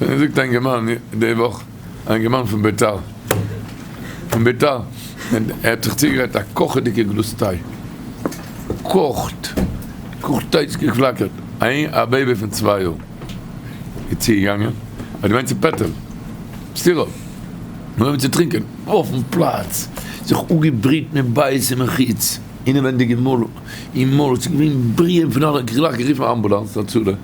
זאגט א אינגערמאן די וואך, א אינגערמאן פון ביתר, פון ביתר, ער האט זיך צוגעגרייט א קאכעדיגע גלאז טיי, געקאכט, געקאכט טיי ס'האט געפלאקערט, א בעיבי פון צוויי יאר איז צוגעגאנגען, האט געמיינט ס'איז פעטער, סטירא, נאר אים צו טרינקען, אויפן פלאץ זיך אפגעבריעט מיט בייס און מיט חיץ, אינעווענדיג אין מויל, אין מויל, ס'איז געווען בריען פון אלע, גלייך גערופן אמבולאנס הצלה.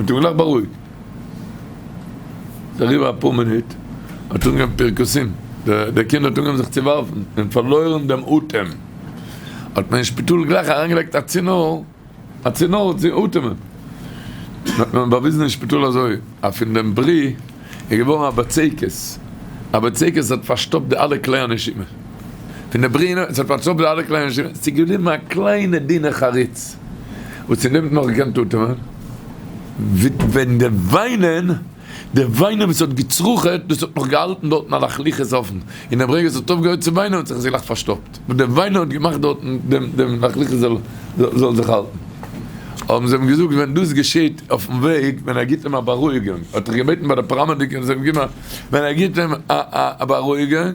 האט אים גלייך בארואיגט. ס'איז אריבער אפאר מינוט, האט זיך אנגעהויבן פירקוסים, דער קינד האט אנגעהויבן זיך צו ווארפן און פארלוירן דעם אטעם, האט מען אין שפיטאל גלייך אריינגעלייגט א צינור, א צינור צו אטעמען, האט מען באוויזן אין שפיטאל אזוי אז פון דעם ברי איז געווארן א בצקת, א בצקת האט פארשטאפט די אלע כלי הנשימה פון די ברי, ס'האט פארשטאפט די אלע כלי הנשימה, ס'איז געבליבן א קליינע דינע חריץ. וואס איר נעמט נאך גענט אטעמען, ווען די וויינען, די וויינען וואס האט געצרוכעט, דאס האט נאך געהאלטן דארטן א לאכליכעס אויפן, אין דעם רגע עס האט אויפגעהויעט צו וויינען האט זיך עס געלאכט פארשטאפט, וואס די וויינען האט געמאכט דארטן דעם דעם לאכליכעס זאל זאל זיך האלטן. האבן זיי אים געזאגט ווען דאס געשעהט אויפן וועג, ווען ער גיבט אים א בארואיגונג, האט ער געבעטן ביי די פאראמעדיקער זיי האבן געגעבן א, ווען ער גיבט אים א בארואיגונג,